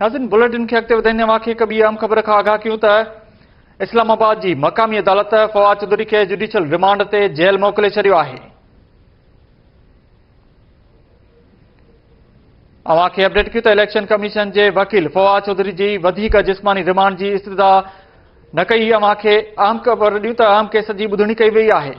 ناظرين بليٽن کي اڳتي وڌائيندي اوهان کي هڪ ٻي اهم خبر کان آگاهه ڪيون ته اسلام آباد جي مقامي عدالت فواد چوڌري کي جوڊيشل ريمانڊ تي جيل موڪلي ڇڏيو آهي اوهان کي اپڊيٽ ڪيون ته اليڪشن ڪميشن جي وڪيل فواد چوڌري جي وڌيڪ جسماني ريمانڊ جي استدا نه ڪئي اوهان کي اهم خبر ڏيون ته اهم ڪيس جي ٻڌڻي ڪئي وئي آهي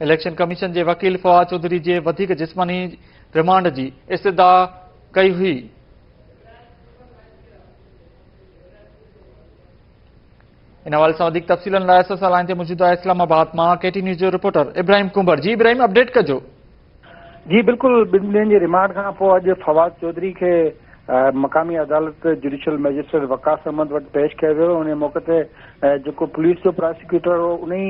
اليڪشن ڪميشن جي وڪيل فواد چوڌري جي وڌيڪ جسماني رمانڊ جي استدعا ڪئي هئي. ان حوالي سان وڌيڪ تفصيلن لاء اسان سان لائين تي موجود آهي اسلام آباد مان ڪي ٽي نيوز جو رپورٽر ابراهيم ڪنڀر جي ابراهيم اپڊيٽ ڪجو جي بلڪل ٻن ڏينهن جي ريمانڊ کان پوء اڄ فواد چوڌري کي مقامي عدالت جڊيشل مئجسٽريٽ وقاص احمد وٽ پيش ڪيو ويو انهي موقعي تي جيڪو پوليس جو پراسيڪيوٽر هو انهي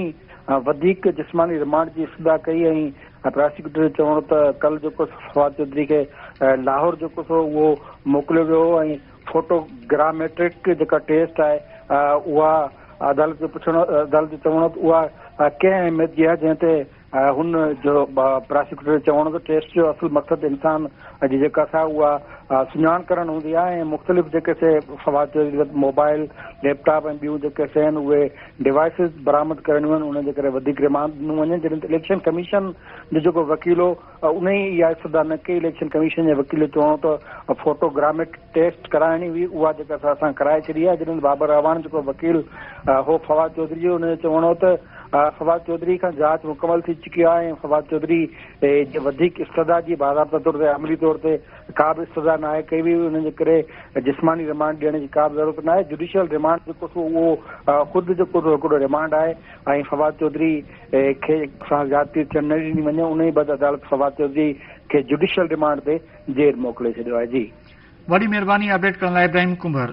وڌيڪ جسماني ريمانڊ جي استدعا ڪئي ۽ پراسيڪيوٽر جو چوڻ هو ته ڪل جيڪو فواد چوڌري کي لاهور جيڪو سو اهو موڪليو ويو هو ۽ فوٽو گراميٽرڪ جيڪا ٽيسٽ آهي اها عدالت جو پڇڻ عدالت جو چوڻ هو ته اها ڪنهن اهميت جي آهي جنهن تي هن جو پراسيڪيوٽر جو چوڻ هو ته ٽيسٽ جو اصل مقصد انسان جي جيڪا سا اها سڃاڻ ڪرڻ هوندي آهي ۽ مختلف جيڪي سي فوائد موبائل، ليپ ٽاپ ۽ ٻيون جيڪي سي آهن اهي ڊوائسز برآمد ڪرڻيون آهن ان جي ڪري وڌيڪ رمانڊ ڏنو وڃي جڏهن ته اليڪشن ڪميشن جو جيڪو وڪيل هو ان ئي اها استدا نه ڪئي اليڪشن ڪميشن جي وڪيل جو چوڻ هو ته فوٽو گراميٽ ٽيسٽ ڪرائڻي هئي اها جيڪا سا اسان ڪرائي ڇڏي آهي جڏهن ته بابر اعواڻ جيڪو وڪيل هو فواد چوڌري جو ان جو چوڻ هو ته فواد چوڌري کان جاچ مڪمل ٿي چڪي آهي ۽ فواد چوڌري جي وڌيڪ استدعا جي باضابطه طور تي عملي طور تي ڪا به استدعا ناهي ڪئي وئي انهن جي ڪري جسماني ريمانڊ ڏيڻ جي ڪا به ضرورت ناهي جوڊيشل ريمانڊ جيڪو سو اهو خود جيڪو سو هڪڙو ريمانڊ آهي ۽ فواد چوڌري کي سان زيادتي ٿيڻ نه ڏني وڃي ان جي بعد عدالت فواد چوڌري کي جوڊيشل ريمانڊ تي جيل موڪلي ڇڏيو آهي جي وڏي مهرباني اپڊيٽ ڪرڻ لاء ابراهيم ڪنڀر.